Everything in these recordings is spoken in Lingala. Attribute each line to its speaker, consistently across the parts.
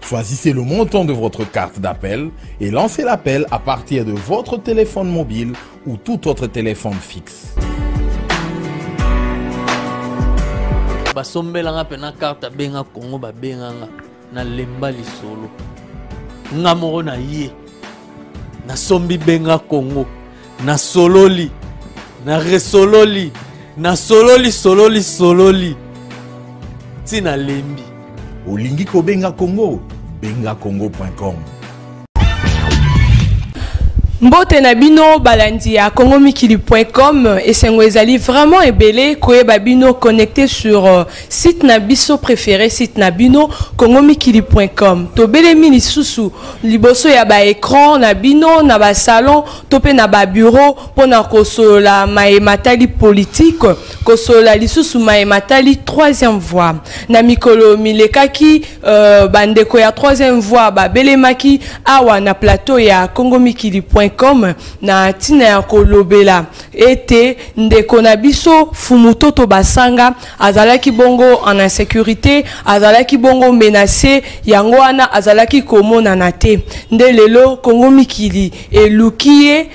Speaker 1: Choisissez le montant de votre carte d'appel et lancez l'appel à partir de votre téléphone mobile ou tout autre téléphone fixe.
Speaker 2: basombelanga mpe na karte abenga kongo babenganga nalemba lisolo nga moko na ye nasombi benga kongo nasololi na resololi nasololi sololi sololi ti nalembi olingi
Speaker 1: kobenga congo benga congo.com
Speaker 3: mbote na bino balandi ya congomikili.com esengo ezali vraiment ebele koyeba bino connecte sur euh, Site na biso prefere site na bino congomikili.com tobelemi lisusu liboso ya ba écran na bino na ba salon to mpe na ba bureau mpo na kosolola maye matali politike kosolola lisusu maye matali troisième voie na mikolo milekaki euh, bandeko ya troisième voie babelemaki awa na plateau ya congomikili.com na ntina ya kolobela ete ndeko na biso fumutoto basanga azalaki bongo en insecurite azalaki bongo menace yango wana azalaki komonana te nde lelo kongo mikili eluki ye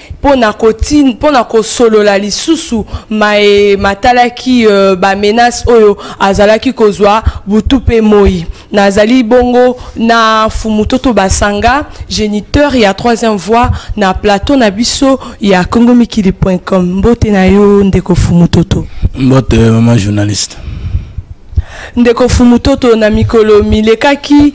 Speaker 3: mpo na kosolola lisusu maye matalaki euh, bamenace oyo azalaki kozwa butu mpe moi Nazali bongo na Mfumu Toto Basanga, geniteur ya troisième voix na plateau na biso ya congomikili.com. Mbote na yo ndeko Mfumu Toto. Mbote maman
Speaker 4: journaliste.
Speaker 3: ndeko fumutoto na mikolo milekaki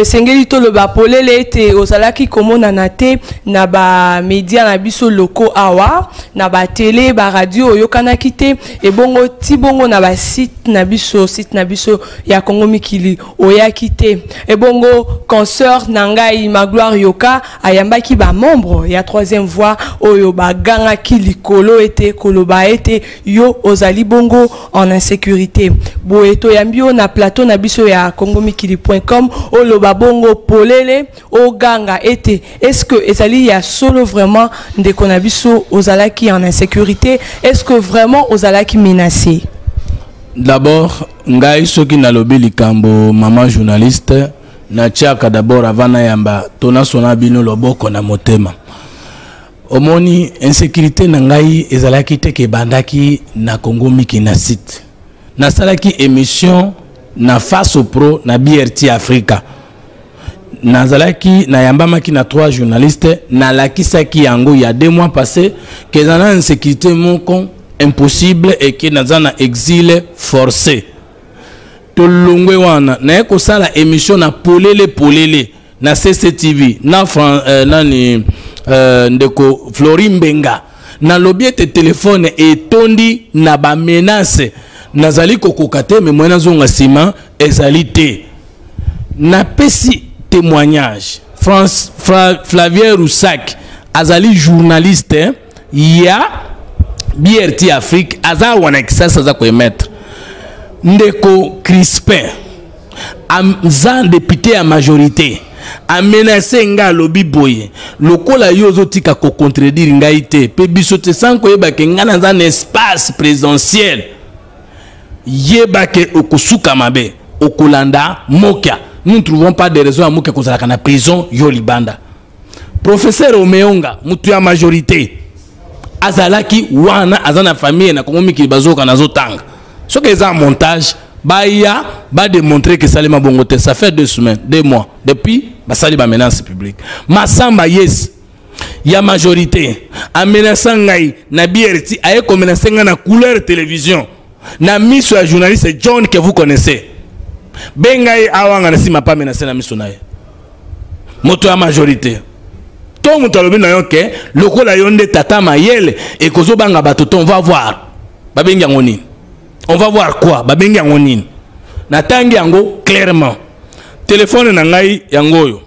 Speaker 3: esengeli toloba polele ete ozalaki komonana te na bamedia na biso loko awa na batele baradio oyokanaki te ebongo ti bongo na basite na biso site na biso ya Congo mikili oyaki te ebongo concert na ngai Magloire Yoka ayambaki ba membre ya troisième voix oyo bagangaki likolo ete koloba ete yo ozali bongo en insécurité boye toyambi yo na plateau na biso ya congomikili.com oloba bongo polele oganga ete est-ce que ezali ya solo vraiment ndeko na biso ozalaki en insécurité est-ce que vraiment ozalaki menacé
Speaker 4: d'abord Ngai soki nalobi likambo maman journaliste na tiaka d'abord avant nayamba to nasona bino loboko na motema omoni insécurité na ngai ezalaki te ke ebandaki na Congo miki na site nasalaki émission na face au pro na BRT Africa nazalaki nayambamaki na trois journaliste nalakisaki yango ya deux mois passé ke eza na insécurité moko impossible eke naza na exile forcé tolongwe wana naye kosala émission na polele polele na cctv na Fran, euh, nani euh, ndeko flori mbenga nalobi ete telefone etondi na bamenase nazali kokoka te me moye nazonga nsima ezali te Na pesi témoignage. France Fra, Flavien Roussac azali journaliste ya BRT Afrique aza wana kisasa aza ko émettre. Ndeko Crispin aza député ya majorité amenase nga alobi boye lokola yo ozotika kocontredire ngai te mpe biso te sankoyebake ngai naza na espace présidentiel yeba ke okosuka mabe okolanda mokia nous ne trouvons pas de raison ya mokia kozalaka na prison yo libanda professeur omeonga motu ya majorité azalaki wana aza na famille na kongo mikili bazoyoka nazotanga soki eza montage baya bademontre ke esalema bongo te ça fait deux semaines deux mois depuis basali bamenance publique masamba yes ya majorité amenasa ngai na brti aye komenase ngai na couleur télévision na miso ya journaliste john que vous connaissez benga ye awanga na nsima pa menase na miso na ye moto ya majorité to moto alobi na yo ke lokola yo nde tata mayele ekozobanga bato to on va voir babengi yango nini on va voir quoi babengi yango nini natangi yango clairement telefone na ngai yango oyo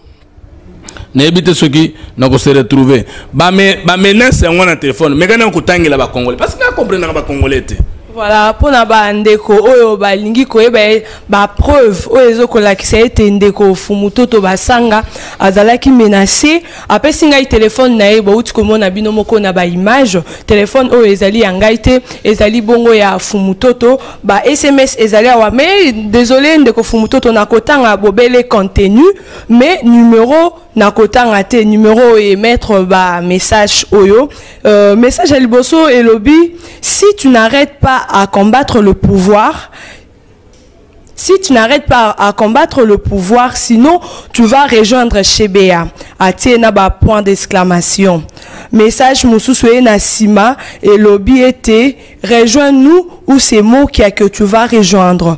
Speaker 4: nayebi te soki nakose retrouve bamenace yango na telefone meka na kotangela bacongolais parce que nakomprenaka bacongolais te voilà
Speaker 3: mpo na bandeko oyo balingi koyeba ye bapreuve oyo ezo kolakisa ete ndeko fumutoto basanga azalaki menace apesi ngai telefone na ye bouti komona bino moko na baimage telefone oyo ezali ya ngai te ezali bongo ya fumutoto ba sms ezali awa mais désolé ndeko fumutoto nakotanga bobele contenu mais numero na kotanga te numero oyo emettre ba message oyo euh, message ya liboso elobi si tu n'arrêtes pas à combattre le pouvoir si tu n'arrêtes pas à combattre le pouvoir, sinon tu vas rejoindre Shebea. Atie na ba point d'exclamation. Message mususu e na sima et lobby était rejoins-nous ou c'est moi qui a que tu vas rejoindre.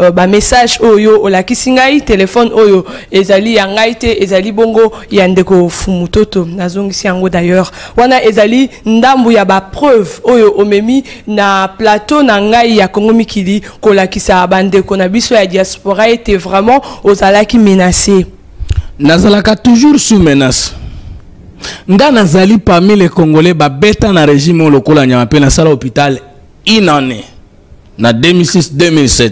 Speaker 3: Euh, ba message oyo olakisi ngai telefone oyo ezali ya ngai te ezali bongo ya ndeko fumutoto nazongisi yango d'ailleurs wana ezali ndambu ya bapreuve oyo omemi na plateau na ngai ya kongo mikili kolakisa bandeko na biso ya diaspora ete vraiment ozalaki menace nazalaka
Speaker 4: toujours sous menace nga nazali parmi les congolais babeta na régime oyo lokola nyama mpe nasala hôpital une année na 2006 2007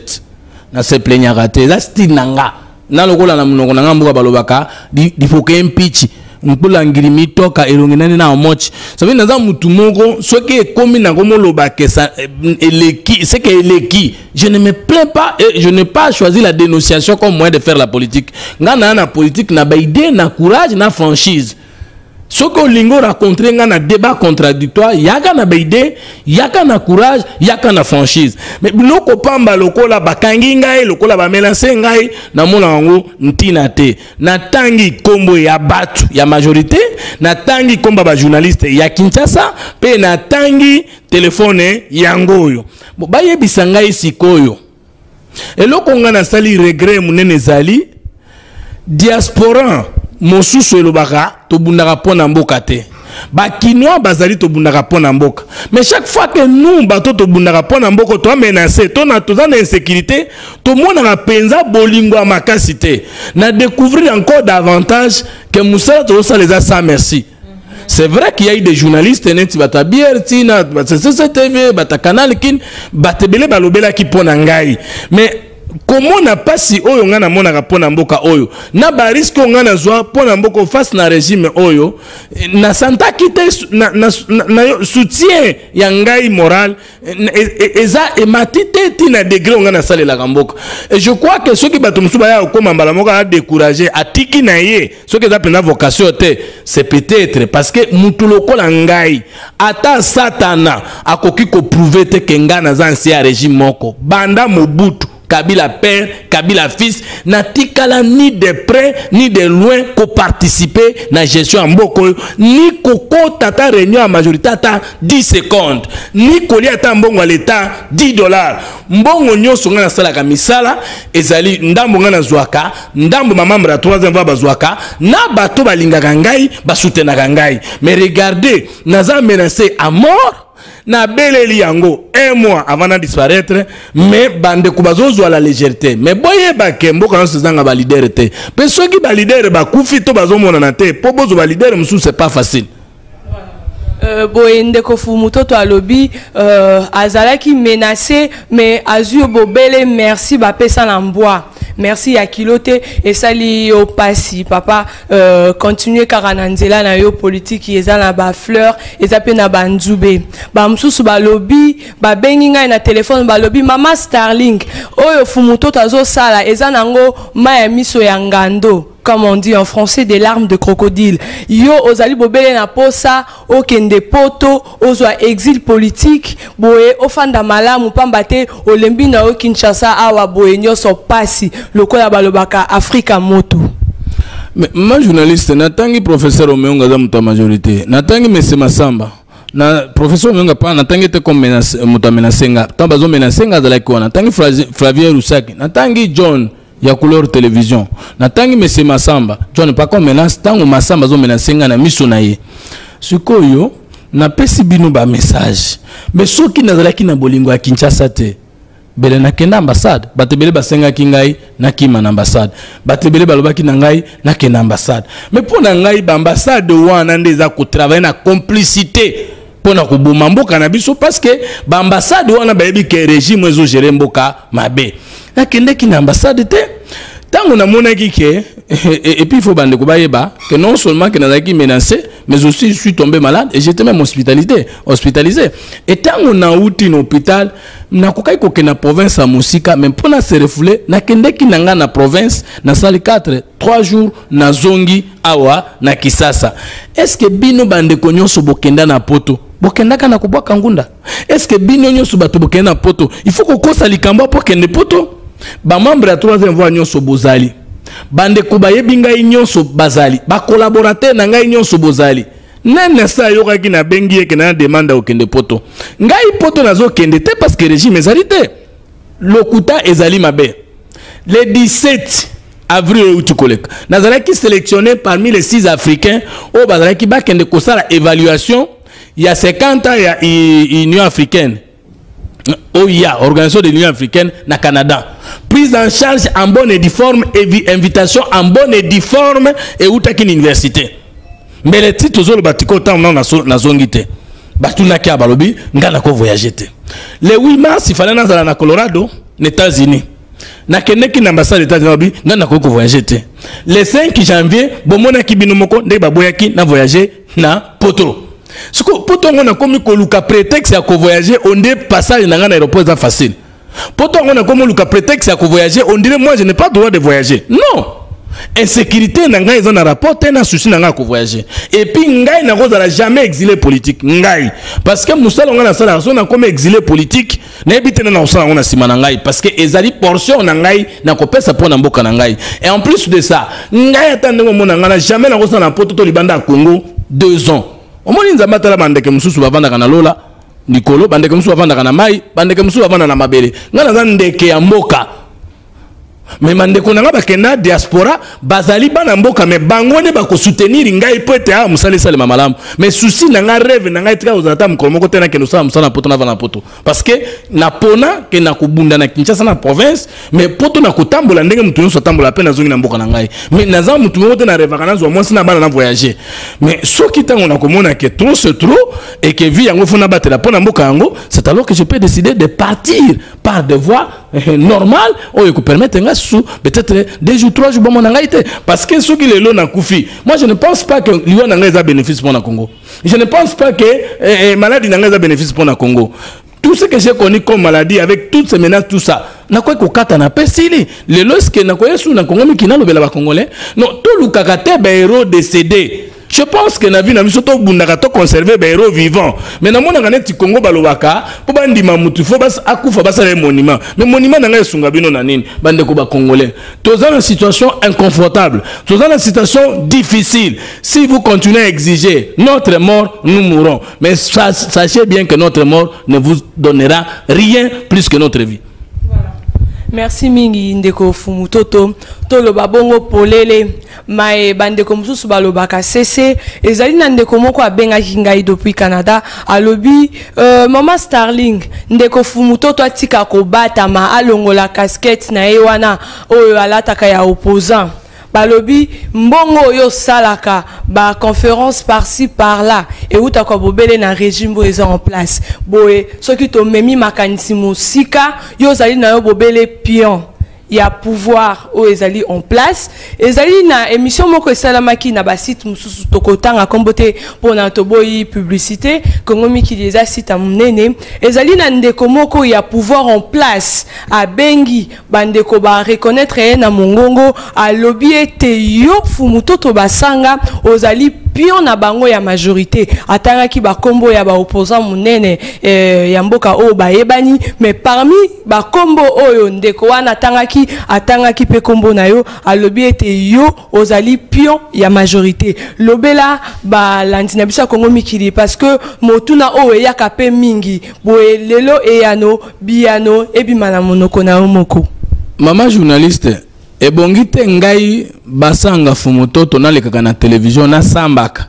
Speaker 4: na se plaignaka te eza style na nga na lokola na monoko na nga mboka balobaka lifoka empichi mpola ngili mitoka elongi nani na omochi sabi naza mutu moko soki ekomi nango moloba ke eh, eleki seke eleki je ne me plains pas et je n'ai pas choisi la dénonciation comme moyen de faire la politique nga naa na politique na baide na courage na franchise soki olingi oracontre ngai na débat contradictoire yaka na baide yaka na courage yaka na franchise mais biloko pamba lokola bakangi ngai lokola bamelanse ngai namona yango ntina te natangi nkombo ya bato ya majorité natangi nkombo ya bajournaliste ya kinshasa mpe natangi telefone yango oyo bayebisa ngai sikoyo eloko ngai nasali regret monene ezali diaspora mosusu elobaka tobundaka mpo na mboka te bakinois bazali tobundaka mpo na mboka mais chaque fois que nous bato tobundaka mpo na mboka toa menace toza na insécurité tomonaka mpenza bolingo ya makasi te na découvrir encore davantage ke mosala tozosala eza sans merci C'est vrai qu'il y a eu des journalistes neti bata bière tina bata CCTV bata canal kin bata belé balobela ki pona ngai mais comment n'a pas si oyo nga na mona ka pona mboka oyo na ba risque nga na zwa pona mboka face na régime oyo na santa kite na, na, na, na soutien ya ngai moral eza emati te ti na degre onga nasalelaka mboka et je crois que soki bato mosusu baya kokoma mbala moko adécourage atiki na ye soki eza mpenza vocation te c'est peut-être parce que motu lokola ngai ata satana akoki koprouve te ke ngai naza nse ya régime moko banda mobutu Kabila père, Kabila fils, na tikala ni de près ni de loin ko participer na gestion ya mboko ni kokota ata réunion ya majorité ata 10 secondes, ni kolia ata mbongo ya l'État 10 dollars. Mbongo nyonso ngai nasalaka misala ezali ndambo ngai nazwaka, ndambo ma membre ya 3e voie bazwaka, na bato balingaka ngai, basutenaka ngai. Mais regardez, naza menacé à mort. na beleli yango un mois avant na disparaître mais bandeko bazozwa la légèreté mais boyeba ke mboka nyonso ezanga balidere te mpe soki balidere bakufi to bazomonana te mpo bozwa balidere mosusu c'est pas facile Euh,
Speaker 3: boye ndeko fumutoto alobi euh, azalaki menace mais azwi bobele merci bapesa na mbwa merci ya kilo te esali yo pasi papa euh, continue kaka na nzela na yo politiki eza na bafleur eza mpe na banzube bamosusu balobi babengi ngai na telefone balobi mama starling oyo fumutoto azosala eza nango mai ya miso ya ngando comme on dit en français des larmes de crocodile yo ozali bobele na posa okende poto ozwa exil politique boye ofanda malamu pamba te olembi na yo kinshasa awa boye nyonso pasi lokola balobaka afrika motu Mais,
Speaker 4: ma journaliste natangi professeur omeonga aza moto ya majorité natangi mese masamba na professeur omeonga pa natangi ete comme moto amenase nga ntango bazomenase nga azalaki wana natangi flavien rusaki natangi john ya couleur television na tangi monsieur Massamba John pas comme menace tango Massamba zo menacer nga na miso na ye sikoyo na pesi bino ba message mais soki nazalaki na bolingo ya Kinshasa te bele na kenda ambassade bato ebele basengaki ngai nakima na ambassade bato ebele balobaki na ngai nakenda ambassade mais mpo na ngai baambassade wana nde eza kotravaille na complicité pona koboma mboka na biso parce que ba ambassade wana bayebi ke regime ezo gérer mboka mabe nakendeki na ambassade te ntango namonaki ke et puis il faut bande kobayeba que non seulement que nazalaki menacé mais aussi je suis tombé malade et j'étais même hospitalisé hospitalisé et ntango nauti na hôpital nakokaki kokende na province ya mosika mais mpo na se refoule nakendeki na ngai na province nasali 4 3 jours nazongi awa na kisasa eske bino bandeko nyonso bokenda na poto bokendaka na kobwaka ngunda eske bino nyonso bato bokenda na poto il faut kokosa likambo mpo kende poto bamembre ya troisième voie nyonso bozali bandeko bayebi ngai nyonso bazali bakolaborateur na ngai nyonso bozali nani na sa ayokaki nabengi ye kenda na demande ya kokende poto ngai poto nazokende te parce que régime ezali te Lokuta ezali mabe. Le 17 avril euti koleka nazalaki selectionne parmi les 6 africains oyo bazalaki bakende kosala évaluation ya 50 ans ya union africaine oya oh organisation de l'union africaine na canada prise en charge en bonne et due forme invitation en bonne et due forme eutaki na université mbele ti tozoloba tika otango nao nazongi te batunaki ya balobi ngai nako voyage te le 8 mars ifale nazala na colorado na états-unis nakendeki na ambassade états-unis balobi ngai nakoki kovoyage te le 5 janvier bomonaki bino moko ndenge baboyaki na voyage na poto siko poto yango nakomi koluka prétexte ya kovoyage onde passage na ngai na aéroport eza facile poto yango nakomi oluka prétexte ya kovoyage on dirait moi je n'ai pas droit de voyager non insécurité na ngai eza na rapport te na souci na ngai ya kovoyage epuis ngai nakozala jamais exilé politique ngai parce que mosala ngai nasalaka so nakomi exilé politique nayebi te nde nakosala yango na nsima na ngai parce que ezali portion na ngai nakopesa mpo na mboka na ngai et en plus de ça ngai ata ndenge omona ngai na jamais nakosala na poto to libanda ya congo deux ans omoni nzambe atala bandeke mosusu bavandaka na lola likolo bandeke mosusu bafandaka na mai bandeke mosusu bafanda na mabele ngai naza ndeke ya mboka me bandeko na ngai bakenda diaspora bazali bana mboka me bango nde bakosoutenir ngai mpo ete awa mosala esalema malamu me susi na ngai reve na ngai etika kozala ata mokolo moko te nakende osala mosala na poto nava na poto parce que napona ke nakobunda na kinshasa na province mais poto na kotambola ndenge moto nyonso atambola mpe nazongi na mboka na ngai mais naza moto moko te na revaka nazwa mwasi na bana na voyage mais soki ntango nakomona ke trop se trop et que vie yango fo nabatela mpo na mboka yango c'est alors que je peux décider de partir par de voie eh, normale oyo ekopermettre ngai susu peut-être deux jours trois jours bomona ngai te parce que soki lelo nakufi moi je ne pense pas que liwa na ngai eza bénéfice mpo na congo je ne pense pas que eh, eh, maladi na ngai eza bénéfice mpo na congo tout ce que j'ai connu comme maladie avec toutes ces menaces tout ça nakoki kokata na pe sili lelo eske nakoya su na kongo miki nalobela bacongolais non tolukaka te bahéros décédé je pense que na vie na biso tobundaka toconserve bahéros vivant mais namonaka neti kongo balobaka mpo bandima motu fo akufa basala ye monument mais monument na ngai esunga bino na nini bandeko bacongolais toza na situation inconfortable toza na situation difficile si vous continuez à exiger notre mort nous mourons Mais sachez bien que notre mort ne vous donnera rien plus que notre vie.
Speaker 3: merci mingi ndeko fumutoto toloba bongo polele maye bandeko mosusu balobaka sese ezali na ndeko moko abengaki ngai depuis canada alobi euh, mama starling ndeko fumutoto atika kobatama alongola casquette na ye wana oyo alataka ya opposant Balobi mbongo oyo osalaka ba conference par ci par là ewutaka bobele na regime oyo eza en place. Boye soki tomemi makanisi mosika, yo ozali na yo bobele pion ya pouvoir oyo ezali en place. Ezali na emission moko esalamaki na ba sites mosusu, tokotanga kombo te pona toboyi publicite. Congo Mikili eza site ya monene. Ezali na ndeko moko ya pouvoir en place abengi Ba ndeko ba reconnaitre ye na mongongo alobi ete yo Mfumu Toto Basanga ozali pion na bango ya majorite. Atangaki ba kombo ya ba opposants munene ya mboka oyo bayebani mais parmi ba kombo oyo ndeko wana atangaki, atangaki pe kombo na yo. Alobi ete yo. Ozali pion ya majorite. Lobela ba landi na biso ya Congo mikili parce que motuna oyo eyaka pe mingi boye lelo eyano biyano ebima na monoko na yo moko. Mama journaliste,
Speaker 4: ebongi te ngai basanga fumutoto nalekaka na television nasambaka.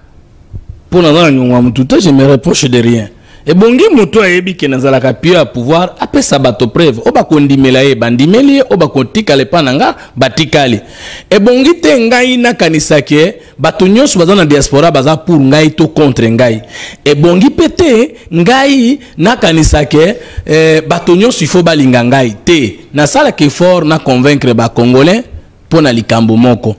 Speaker 4: Mpo naza na nyongo ya motu te, je me reproche de rien. ebongi moto ayebi ke nazalaka pio ya pouvoir apesa bato preuve oyo bakondimela ye bandimeli ye oyo bakotikala epai na nga batikali ebongi te ngai nakanisa ke bato nyonso baza na diaspora baza pour ngai to contre ngai ebongi mpe te ngai nakanisa ke eh, bato nyonso ifo balinga ngai te nasalaka effort na convaincre bacongolais mpo na likambo moko.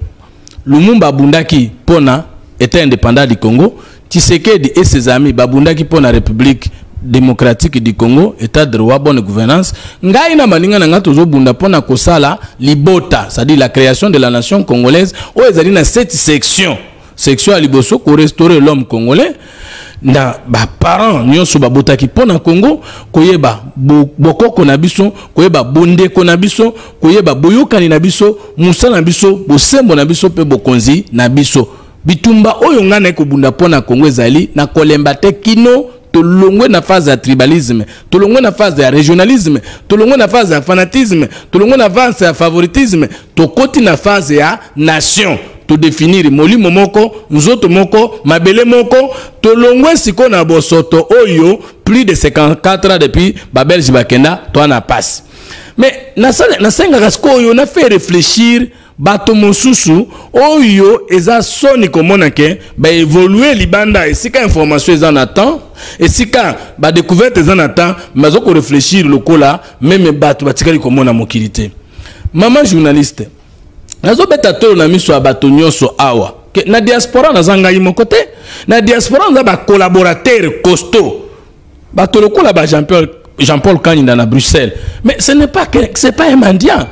Speaker 4: Lumumba abundaki mpo na Etat independant du Congo, Tshisekedi et ses amis babundaki mpo na Republique démocratique du Congo, état de droit, bonne gouvernance. Ngai na maninga na ngai tozobunda pona kosala libota, c'est-à-dire la création de la nation congolaise oyo ezali na cette section Section ya liboso ko restaurer l'homme congolais na ba parents nionso babotaki mpo na Congo koyeba bokoko na biso koyeba bondeko na biso koyeba boyokani na biso mosala na biso bosembo na biso mpe bokonzi na biso bitumba oyo ngai naye kobunda mpo na Congo ezali na kolemba te kino tolongwe na phase ya tribalisme tolongwe na phase ya regionalisme tolongwe na phase ya fanatisme tolongwe na phase ya favoritisme Tokoti na phase ya nation. To definir molimo moko, nzoto moko, mabele moko. Tolongwe sikoyo na bosoto oyo plus de 54 ans depuis ba belge bakenda toa na pasi. Mais nasengaka sikoyo na fait reflechir bato mosusu oyo eza soni komona ke baevolue libanda esika information eza na temps esika badecouverte eza na temps mais aza koreflechir lokola meme bato batikali komona mokili te mama journaliste nazobeta tolo na miso ya bato nyonso awa ke na diaspora naza ngai moko te na diaspora naza bacollaborateur costaud bato lokola ba jean paul, jean paul kaninda na bruxelles mais ce n'est pas, c'est pas un mendiant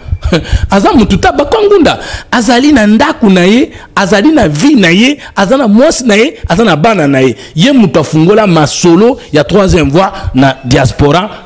Speaker 4: aza motu ta bakangunda azali na ndako na ye azali na vie na ye aza na mwasi na ye aza na bana na ye ye moto afungola masolo ya troisième voie na diaspora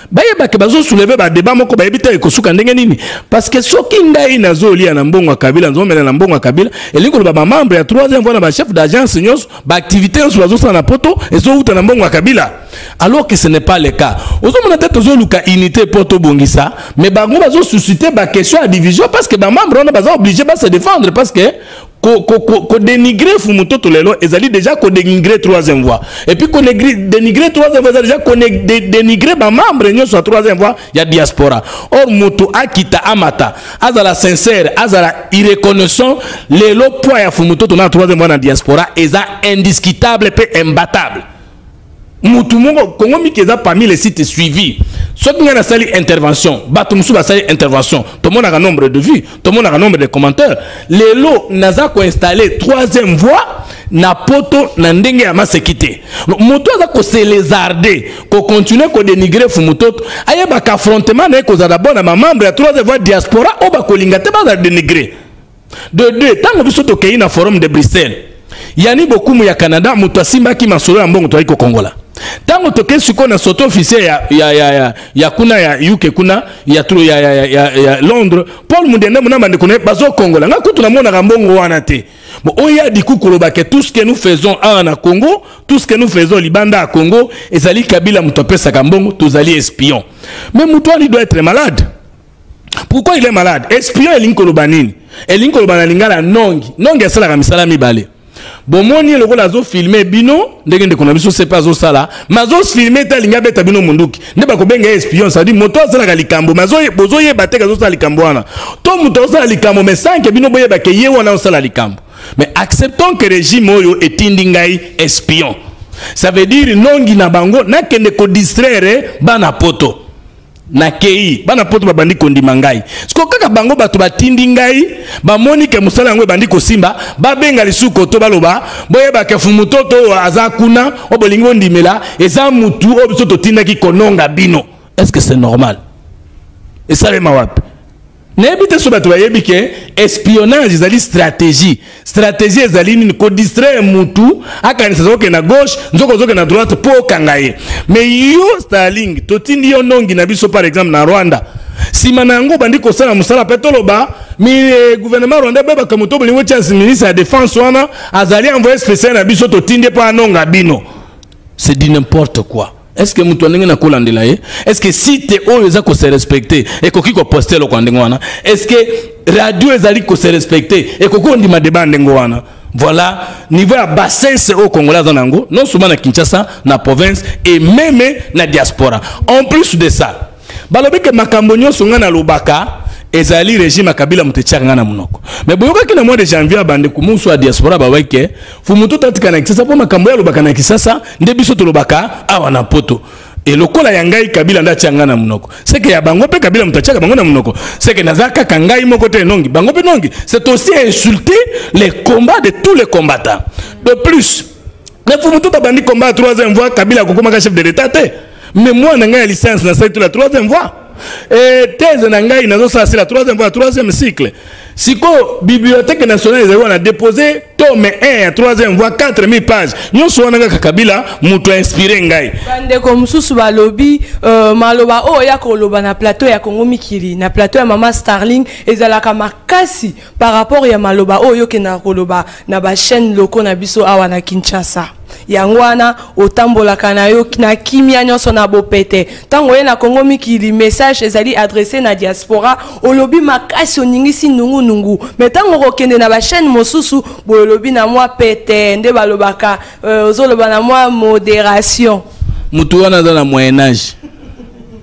Speaker 4: bayeba ke bazo souleve badeba moko bayebi te ekosuka ndenge nini parceke soki ngai nazolia na mbongo ya kabila nazomela na mbongo ya kabila elingi koloba bamembre ya 3 voi na bachef d'agence nyonso baaktivité nyonso bazosala na poto ezowuta na mbongo ya kabila alors que ce n'est pas le cas ozomona te tozoluka unité mpo tobongisa mais bango bazosuscite baquestion ya division parce que bamembre wana baza oblige base défendre parce que kodenigre fumutoto lelo ezali deja kodenigre troisième voix epuis kodenigre troisième voix ezali deja kodenigre bamembre nyonso ya troisième voix ya diaspora or moto akita amata azala sincère azala irreconnaissant lelo poids ya fumutoto na troisième voix na diaspora eza indiscutable mpe imbatable mutu moko Congo Miki eza parmi les sites suivis soki ngai nasali intervention bato mosusu basali intervention tomonaka nombre de vues tomonaka nombre de commentaires lelo naza koinstalle troisième voix na poto na ndenge ya maseki te moto aza koselezarde kocontinue kodenigre fumutoto ayebaka affrontement na ye kozala bona mamembre ya troisième voix diaspora oyo bakolinga te bazala denigre de deux ntango biso tokei na forum de bruxelles yani bokumu ya canada moto asimbaki masolo ya mbongo toyaki kokongola ntango tokei sikoyo na soto officier ya, ya, ya, ya, ya kuna ya uk kuna ya, tro, ya, ya, ya, ya, ya londres paul mundende mona bandeko na ye bazokongola ngai kutu namonaka mbongo wana te bon oyo adiku koloba ke tout ce que nous faisons awa na congo tout ce que nous faisons libanda ya congo ezali kabila moto apesaka mbongo tozali espion mais moto wani doit être malade pourquoi il est malade espion elingi koloba nini elingi koloba na lingala nongi nongi asalaka misala mibale bomoni ye lokola azofilme bino ndenge ndeko na biso sepe azosala me azofilme te alingi abeta bino monduki nde bakobenga ye espion sadi moto asalaka likambo me bozoyeba te ke azosala likambo wana to moto azosala likambo me sanke bino boyeba ke ye wana azosala likambo me acceptons ke regime oyo etindi ngai espion ça veut dire nongi na bango nakende kodistraire bana poto nakei bana poto babandi kondima ngai siko kaka bango bato batindi ngai bamoni ke mosala yango ebandi kosimba babenga lisusu koto baloba boyeba ke fumutoto oyo aza kuna oyo bolingi bondimela eza mutu oyo biso totindaki kononga bino est ce que c'est normal esalema wapi Nayebi te soki bato bayebi ke espionnage ezali stratégie. Stratégie ezali nini? Ko distraire mutu akanisa zoke na gauche, nzoko zoke na droite po okanga ye. Mais yo Starling, totindi yo nongi na biso par exemple na Rwanda. Sima na yango obandi kosala mosala pe toloba mi eh, gouvernement rwandais boye bakambo to bolingo tia ministre ya defense wana azali envoyé spécial na biso totindi ye po anonga bino. c'est du n'importe quoi est ce que moto ya ndenge na kolandela ye est ce que site oyo eza kose respecte ekoki koposte eloko ya ndenge wana est ce que radio ezali kose respecte ekoki kondima deba ya ndenge wana voilà niveau ya bassesse oyo congolais aza na yango non seulement na kinshasa na province et meme na diaspora en plus de ça Balobi ke makambo nyonso ngai nalobaka ezali regime ya kabila moto etiaka ngai na monoko me boyokaki na mois de janvier bandeko mosusu ya diaspora babai ke fumutu tatika na kisasa mpo makambo ye alobaka na kisasa nde biso tolobaka awa na poto e lokola ya ngai kabila nde atya ngai na monoko seke ya bango mpe kabila moto atyaka bango na monoko seke naza kaka ngai moko te nongi bango mpe nongi c'est aussi insulter les combats de tous les combattants de plus na fumutu tabandi combat ya 3 voix kabila akokomaka chef de l'état te Memoire na ngai ya licence na site la troisième voie. Et thèse na ngai na ça c'est la troisième voie, troisième cycle. Siko bibliothèque nationale ezali wana déposé tome 1 ya troisième voie 4000 pages. Nyonso wana kaka Kabila moto a inspiré ngai. Bandeko mosusu
Speaker 3: balobi euh, maloba oyo ya koloba na plateau ya Congo Mikili, na plateau ya mama Starling ezalaka makasi par rapport ya maloba oyo okendaka koloba na ba chaîne locaux na biso awa na Kinshasa yango wana otambolaka na yo na kimia nyonso na bopete ntango oye na kongo mikili message ezali adresse na diaspora olobi makasi oningisi nungunungu me ntango okokende na bachaîne mosusu boye olobi na mwa pete nde balobaka euh, ozoloba na mwa moderation motu wana
Speaker 4: aza na moyen age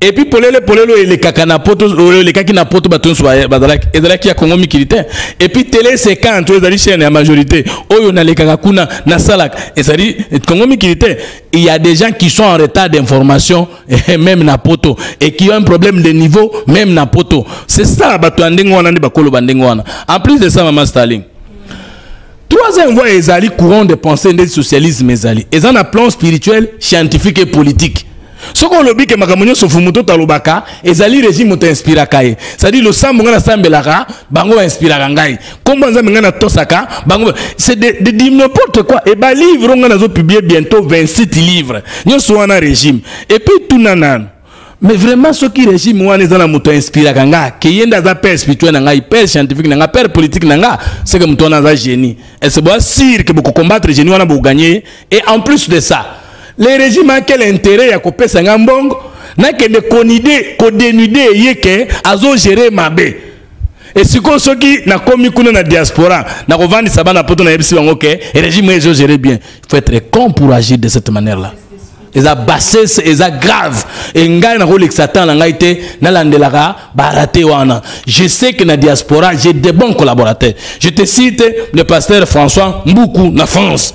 Speaker 4: Et puis polele polele oyo elekaka na poto oyo elekaki na poto bato nyonso bazalaki ezalaki ya kongo mikili te epuis tele secante oyo ezali chaîne ya majorité oyo nalekaka kuna nasalaka ezali kongo mikili te il y a des gens qui sont en retard d'information même na poto et qui ont un problème de niveau même na poto c'est ça bato ya ndenge wana nde bakoloba ndenge wana en plus de ça mama staling troisième voie ezali courant de pensée nde socialisme ezali eza na plan spirituel scientifique et politique soki olobi ke makambo nyonso fumu to talobaka ezali regime moto inspiraka ye cestadi losambo ngai nasambelaka bango bainspiraka ngai nkombo nzambe ngai natosaka bango c'est de, de, de n'importe quoi e balivre ngai nazopublie bientôt 27 livre nyonso wana regime epuis tuna nano mais vraiment soki regime wana eza na moto ainspiraka nga ke ye nde aza père spirituel na ngai père scientifique na nga père politique na nga seke moto wana aza génie ese boa sire ke bokokombattre génie wana bokoganye Et en plus de ça, le régime a quel intérêt ya kopesa nga mbongo nakende konide kodenude ye ke azogere mabe esikoyo soki nakomi kuna na diaspora nakovandisa bana poto nayebisi bango ke régime ezogere bien il faut être con pour agir de cette manière là eza bassesse eza grave e ngai nakolekisa temps na ngai te nalandelaka barate wana je sais que na diaspora j'ai de bons collaborateurs je te cite le pasteur françois mbuku na france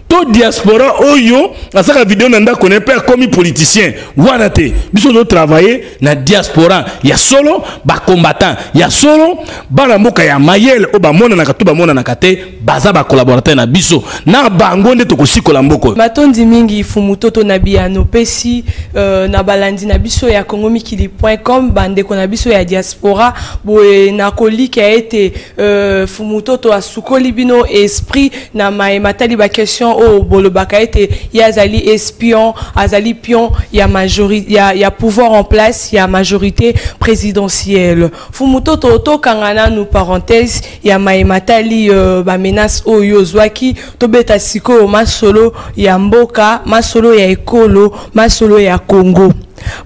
Speaker 4: to diaspora oyo asaka video na ndako na mpe akomi politicien wana te biso tozo travailler na diaspora ya solo bacombattant ya solo bana mboka ya mayele oyo bamonanaka to bamonanaka te baza bacolaborateur na biso na bango nde tokosikola mboko matondi mingi
Speaker 3: fumutoto na biyano pesi euh, na balandi na biso ya congo mikili point com bandeko na biso ya diaspora boye nakolika ete Euh, fumutoto asukoli bino esprit na maye matali baquestion oyo bolobaka ete ye azali espion azali pion ya, majori, ya, ya pouvoir en place ya majorité présidentielle fumutoto tokanga nanu parenthèse ya maye matali uh, bamenace oyo ozwaki tobeta sikoyo masolo ya mboka masolo ya ekolo masolo ya congo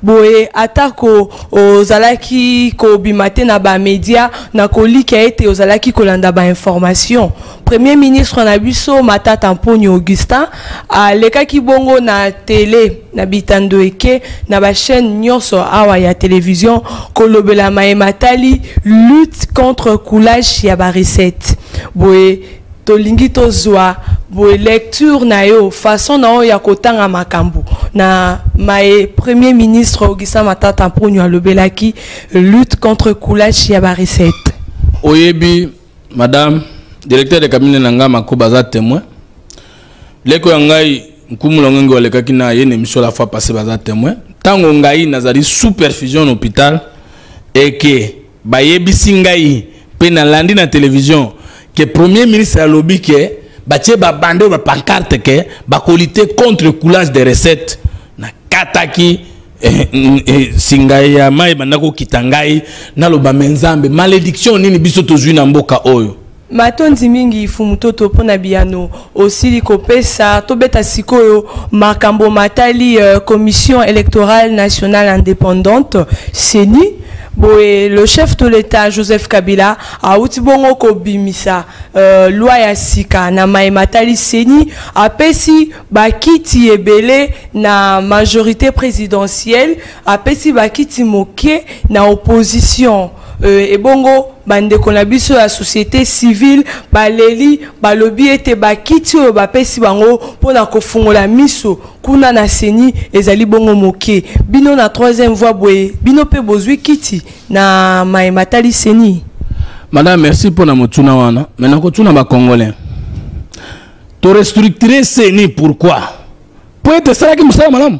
Speaker 3: Boye, atako ozalaki kobima te na ba media, nakolikia ete ozalaki kolanda ba information. Premier ministre na biso Matata Mponyo Augustin alekaki bongo na tele na bitando eke na ba chaines nionso awa ya television kolobela maye matali lutte contre coulage ya ba recettes. Boye, Tolingi tozua boye lecture na yo, façon na yo ya kotanga makambo na maye Premier ministre Augustin Matata Mponyo alobelaki lutte contre kulashi ya ba recettes. Oyebi
Speaker 4: madame directeur de cabinet na ngai Makoba aza temoin. Leko ya ngai Nkumu Longengo alekaki na ye na emission la fois passée baza temoin. Tango ngai nazali sous perfusion na hôpital eke Bayebisi ngai pe na landi na television que premier ministre alobi que batie ba bande ba pancarte que bakolite contre coulage de recette na kataki Eh, mm, eh, singa ya mai ebanda kokita ngai naloba me nzambe malediction nini biso tozwi na mboka oyo Matondi mingi
Speaker 3: Mfumu Toto mpo na biyano osili kopesa. Tobeta sikoyo makambo matali Commission electorale nationale independante, ceni. Boye, le chef de l'Etat Joseph Kabila auti bongo kobimisa loi ya sika na maye matali ceni. Apesi bakiti ebele na majorite presidentielle, apesi bakiti moke na opposition. Euh, ebongo bandeko na biso ya société civile baleli balobi ete bakiti oyo bapesi bango mpo na kofungola miso kuna na seni ezali bongo moke bino na troisième voie boye bino mpe bozwi kiti na maye matali seni madame merci
Speaker 4: mpo na motuna wana me nakotuna bacongolais torestructure seni pourquoi mpo ete esalaki mosala malamu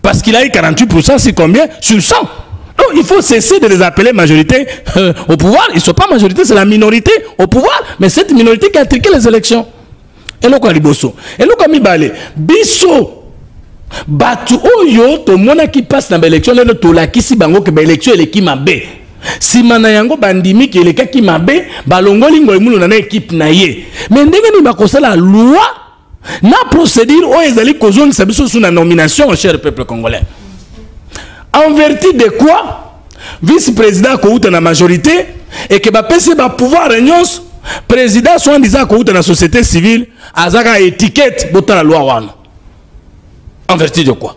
Speaker 4: Parce qu'il a eu 48%, c'est combien Sur 100. Donc il faut cesser de les appeler majorité euh, au pouvoir. Ils ne sont pas majorité, c'est la minorité au pouvoir. Mais cette minorité qui a triqué les élections. Et le quoi liboso Et le quoi mibale Bisso Batu oyo to mona qui passe dans l'élection, le to la qui si bango que l'élection elle est qui m'a bé. Si mana yango bandimi qui est qui m'a bé, balongoli ngoy mulu na équipe na ye. Mais ndenge ni bakosala loi na procédure oyo ezali kozongisa biso sous na nomination cher peuple congolais en vertu de quoi vice président akowuta na majorité et que bapesi bapouvoir nyonso président soin disant akowuta na société civile azaka étiquette botala loi wana en vertu de quoi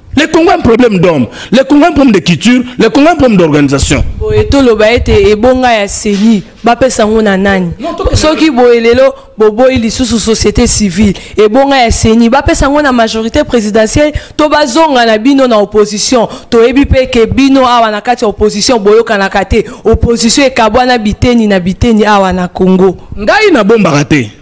Speaker 4: Le Congo a un problème d'homme, le Congo a un problème de culture, le Congo a un problème d'organisation. Boye toloba ete ebonga ya CENI bapesa yango na nani?
Speaker 3: Soki boye lelo boboyi lisusu société civile ebonga ya CENI bapesa yango na majorité présidentielle to bazonga na bino na opposition toyebi mpe ke bino awa na kati ya opposition boyokanaka te opposition ekabwana biteni na biteni awa na Congo. Ngai nabombaka
Speaker 4: te.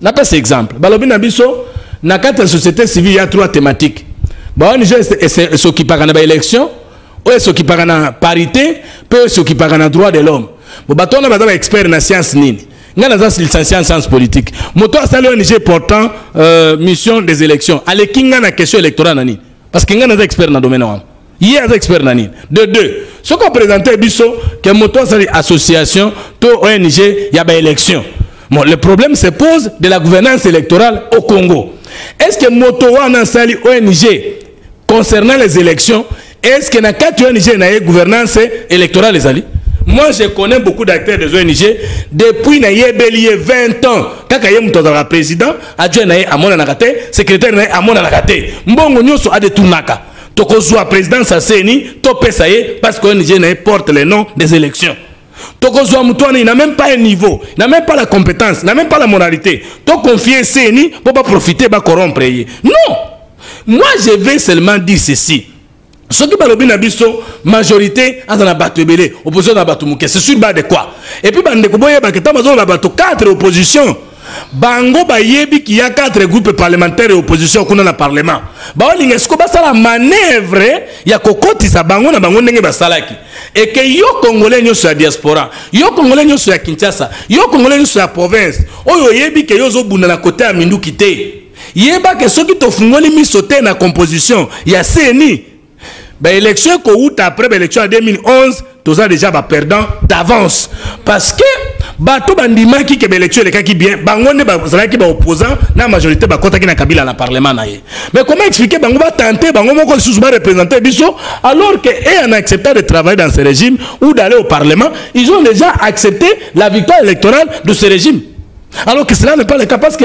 Speaker 4: napesa exemple balobi na biso na kati ya société civile ya trois thématique baong esokipaka na baélection oyo esokipaka na parité mpe oyo esokipaka na droit de l'homme bo bato wana baza baexpert na science nini ngai naza licencie en science politique moto asali ong portant euh, mission des élections aleki ngai na question électorale na nini parce que ngai naza expert na domaine wana ye aza expert na nini de deux soki opresente biso ke moto asali association to ong ya baélection bon le problème se pose de la gouvernance électorale au congo est ce que moto wana asali ong concernant les élections est ce que na kati ong na ye gouvernance électorale ezali moi je connais beaucoup d'acteurs des ong depuis nayebeli ye 20 ans kaka ye moto azalaka président adjoint na ye amonanaka te secrétaire na ye amonanaka te mbongo nyonso adetournaka tokozwa présidence ya ceni topesa ye parce que ong na ye porte le nom des élections tokozwa moto wana na même pas un niveau na même pas la compétence na même pas la moralité toconfie ceni mpo baprofite bacorompre ye non moi je vais seulement dire ceci soki balobi na biso majorité aza na bato ebele opposition na bato moke c'est sur bas de quoi epuis bandeko boyebaka ntango bazoloba bato 4 opposition bango bayebi qu'il y a quatre groupes parlementaires et opposition kuna na parlement baolinga siko basala manœuvre ya kokotisa bango na bango ndenge basalaki eke yo congolais nyonso ya diaspora yo congolais nyonso ya kinshasa yo congolais nyonso ya province oyo oyebi ke yo ozobunda na kote ya minduki te yeba ke soki tofungoli miso te na composition ya ceni ba élection ekowuta après ba élection ya 2011 toza déjà ba perdant d'avance parce que bato bandimaki ke baélection elekaki bien bango nde bazalaki baopposant na majorité bakɔtaki na kabila na parlement na ye mais comment expliquer bango batente bango moko lisusu barepresente biso alors que e en acceptant de travailler dans ce régime ou d'aller au parlement ils ont déjà accepté la victoire électorale de ce régime alors que cela n'est pas le cas parce que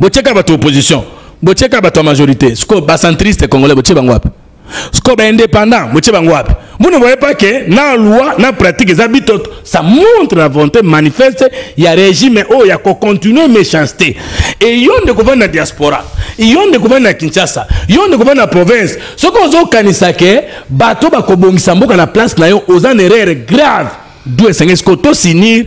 Speaker 4: botieka bato opposition botieka bato ya majorité sikoyo bacentriste congolais botie bango wapi sikoyo baindépendant botie bango wapi vous ne voyez pas que na loi na pratique eza bitoto ça montre la volonté manifeste ya régime oyo oh, ya kocontinue méchanceté e yo nde kovandi na diaspora yo nde kovandi na kinshasa yo nde kovandi na province soki ozokanisa ke bato bakobongisa mboka na place na yo oza na erreur grave du esengeli sikoyo tosinir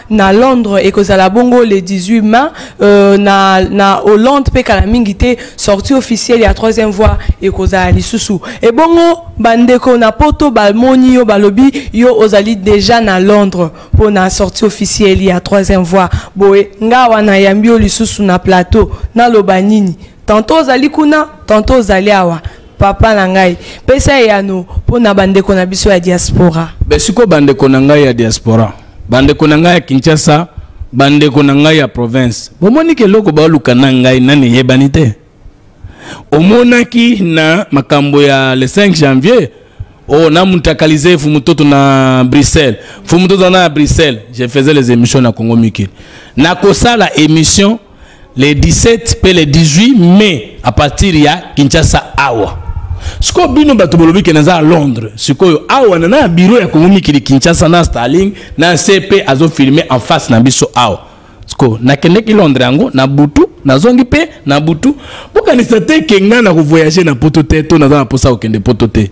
Speaker 3: na Londres ekozala bongo le 18 mai euh, na, na Hollande mpe kala mingi te sortie officielle ya troisième voie ekozala lisusu ebongo bandeko na poto balmoni yo balobi yo ozali déjà na Londres mpo na sortie officielle ya troisième voie boye nga wana yambi yo lisusu na plateau naloba nini tantôt ozali kuna tantôt ozali awa papa na ngai pesa eyano mpo na bandeko na biso ya diaspora besiko bandeko
Speaker 4: na ngai ya diaspora bandeko na ngai ya kinshasa bandeko na ngai ya province bomoni ke eloko baoluka na ngai nani eyebani te omonaki na makambo ya le 5 janvier oyo oh, namutakalize fumutoto na bruxelles fumutoto na bruxelles je faisais les émissions na congo mikili nakosala émission le 17 mpe le 18 mai à partir ya kinshasa awa sikoyo bino bato bolobi ke naza ya londres sikoyo awa na na biro ya kongo mikili kinshasa na starling na se mpe azofilme en face na biso awa sikoyo nakendeki londres yango na butu nazongi mpe na butu bokanisa te ke ngai nakovoyage na poto te to naza na mposa kokende poto te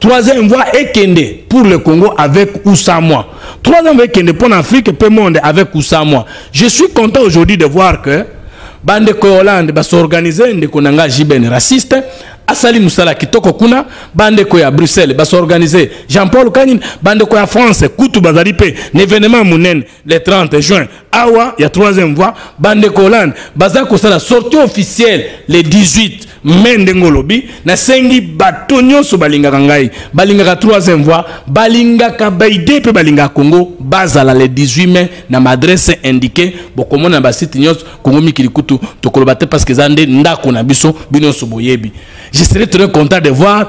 Speaker 4: Troisième voie ekende pour le Congo avec ou sans moi. Troisième voie ekende pour l'Afrique et pour le monde avec ou sans moi. Je suis content aujourd'hui de voir que bande ko Hollande ba s'organiser ndeko nanga JBN raciste asali musala kitoko kuna bande ko ya Bruxelles ba s'organiser Jean-Paul Kanin bande ko ya France kutu bazali pe n'événement munene le 30 juin awa ya troisième voie bandeko hollande baza kosala sortie officielle le 18 mai ndenge olobi nasengi bato nyonso balingaka ngai balingaka troisième voie balingaka baide mpe balingaka congo bazala le 18 mai na madresse indiqué bokomona na basite nyonso kongo mikili kutu tokoloba te parce que eza nde ndako na biso bino nyonso boyebi je serai très content de voir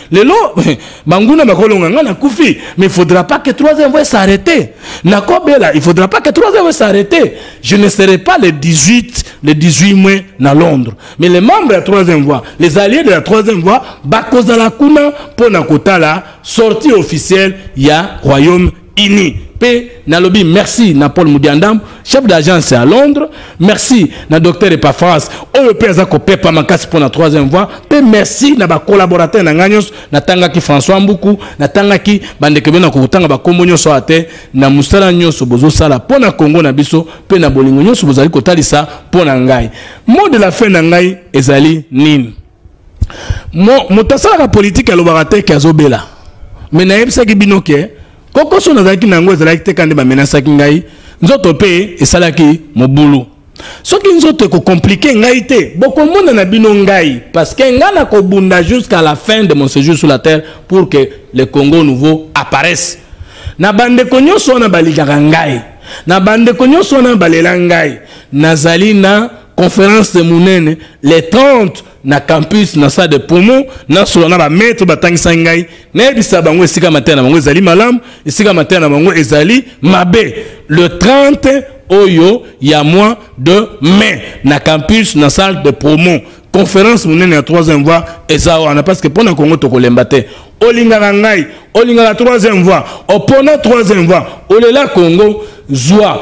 Speaker 4: lelo banguna bakolonga ngai nakufi mais il faudra pas que trois ans s'arrêter nakobela il faudra pas que trois ans s'arrêter je ne serai pas le 18 le 18 mai na londres mais les membres ya troisième voie les alliés de la troisième voie bakozala kuna mpo na kotala sortie officielle ya royaume unis mpe nalobi merci na paul mudiandambu chef d'agence ya londres merci na docteur epafras oyo mpe aza kopepa makasi mpo na troisième voie mpe merci na bacollaborateur na ngai nyonso natangaki françois mbuku natangaki bandeko bino na kokotanga bakombo nyonso awa te na mosala nyonso bozosala mpo na kongo na biso mpe na bolingo nyonso bozali kotalisa mpo na ngai mot de la fin na ngai ezali nini Mo, moto asalaka politiki alobaka te ke azobela me nayebisaki bino ke kokoso nazalaki na yango ezalaki te kaka nde bamenasaki ngai nzoto mpe esalaki mobulu soki nzoto ekokomplike ngai te bokomona na bino ngai parce que ngai nakobunda jusqu'à la fin de mon séjour sur la terre pour que le congo nouveau apparaisse na bandeko nyonso wana balikaka ngai na bandeko nyonso wana balela ngai nazali na conférence monene le 30 na campus na salle de promo nasola na bamaître batangisaki ngai nayebisa bango esika mateya na bango ezali malamu esika mateya na bango ezali mabe le 30 oyo ya mois de mai na campus na salle de promo conférence monene ya troisième voie eza wana parce que mpo na kongo tokolemba te olingaka ngai olingaka troisième voie opona troisième voie olela kongo zwa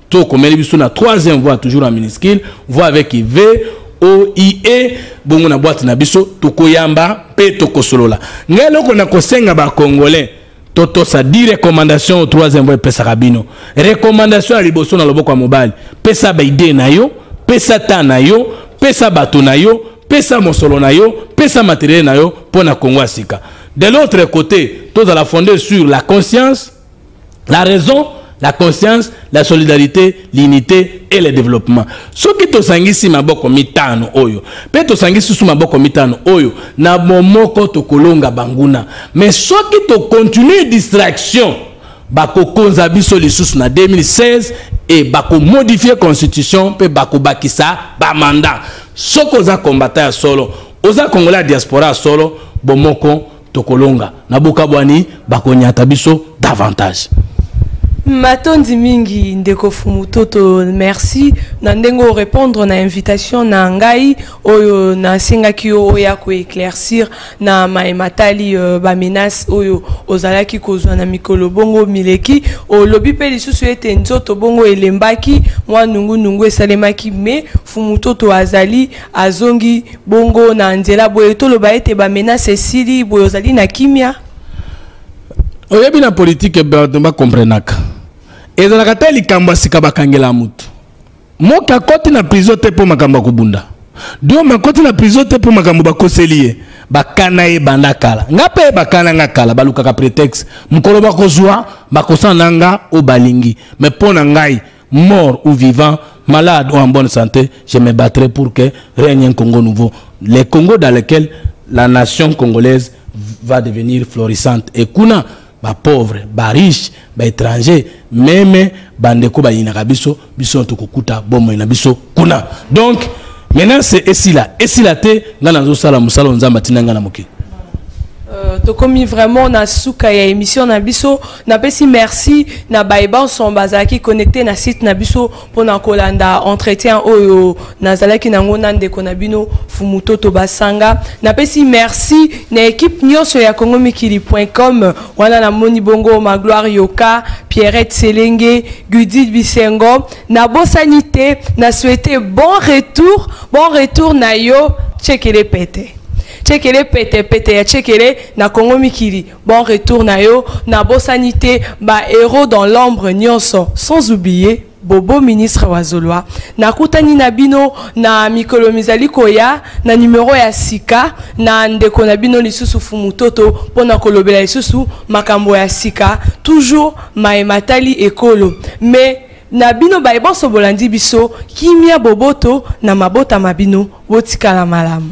Speaker 4: To komeli biso na troisième voix toujours en minuscule, voix avec V, O, I, E, bongo na boîte na biso, tokoyamba pe tokosolola. Ngai eloko na kosenga ba Congolais, totosa di recommandation au troisième voix epesaka bino. Recommandation ya liboso na loboko ya mobali, pesa ba idee na yo, pesa temps na yo, pesa bato na yo, pesa mosolo na yo, pesa materiel na yo mpo na Congo ya sika. De l'autre côté, tozala fonde sur la conscience, la raison la conscience la solidarité l'unité et le développement soki tosangisi maboko mitano oyo mpe tosangisi susu maboko mitano oyo na bomoko tokolonga banguna mais soki tocontinue distraction bakokonza biso lisusu na 2016 e bakomodifie constitution mpe bakobakisa bamanda soki oza kombata ya solo oza kongola ya diaspora ya solo bomoko Tokolonga na bokabwani bakonyata biso davantage.
Speaker 3: Matondi mingi ndeko Fumu Toto, merci na ndenge o répondre na invitation na ngai oyo na sengaki yo oya ko éclaircir na maye matali euh, ba menaces oyo ozalaki kozwa na mikolo bongo mileki. Olobi pe lisusu ete nzoto bongo elembaki, mwa nungu nungu esalemaki mais Fumu Toto azali azongi Bongo na nzela boye toloba ete ba menace esili boye ozali na kimia.
Speaker 4: Oyebi na politique bato ba comprenaka. Ezalaka te likambo sika bakangela moto. Moki akoti na prison te mpo makambo akobunda. Dioma akoti na prison te mpo makambo bakoseli ye. Bakana ye banda kala. Nga mpe bakana nga kala balukaka pretexte. Mokolo bakozwa bakosana na nga oyo balingi. Mais mpo na ngai mort ou vivant, malade ou en bonne sante, je me battrai pour que règne un Congo nouveau, le Congo dans lequel la nation congolaise va devenir florissante et kuna ba pauvres, ba riches, ba étrangers, meme bandeko bayinaka biso, biso tokokuta bomoi na biso. kuna donc menace esila esila te ngai nazosala mosala oyo nzambe atinda ngai na mokili Euh,
Speaker 3: tokomi vraiment na suka ya émission na biso napesi merci na baye banso bazalaki connecté na site na biso mpona kolanda entretien oyo nazalaki nango na ndeko na bino fumutoto basanga napesi merci na équipe nyonso ya congo mikili point com wana namoni bongo magloire yoka pierrette selenge gudid bisengo Nabosani te na souhaite bon retour bon retour na yo tshekele pete tshekele pete pete ya tshekele na kongo mikili bon retour na yo nabosani te ba héros dans l'ombre nyonso sans oublier bobo ministre wa zolwa nakutani na bino na mikolo mizali koya na numero ya sika na ndeko na bino lisusu fumutoto mpo na kolobela lisusu makambo ya sika toujours maye matali ekolo mais Na bino baye bonso bolandi biso, kimia boboto na mabota ma bino, botikala malamu.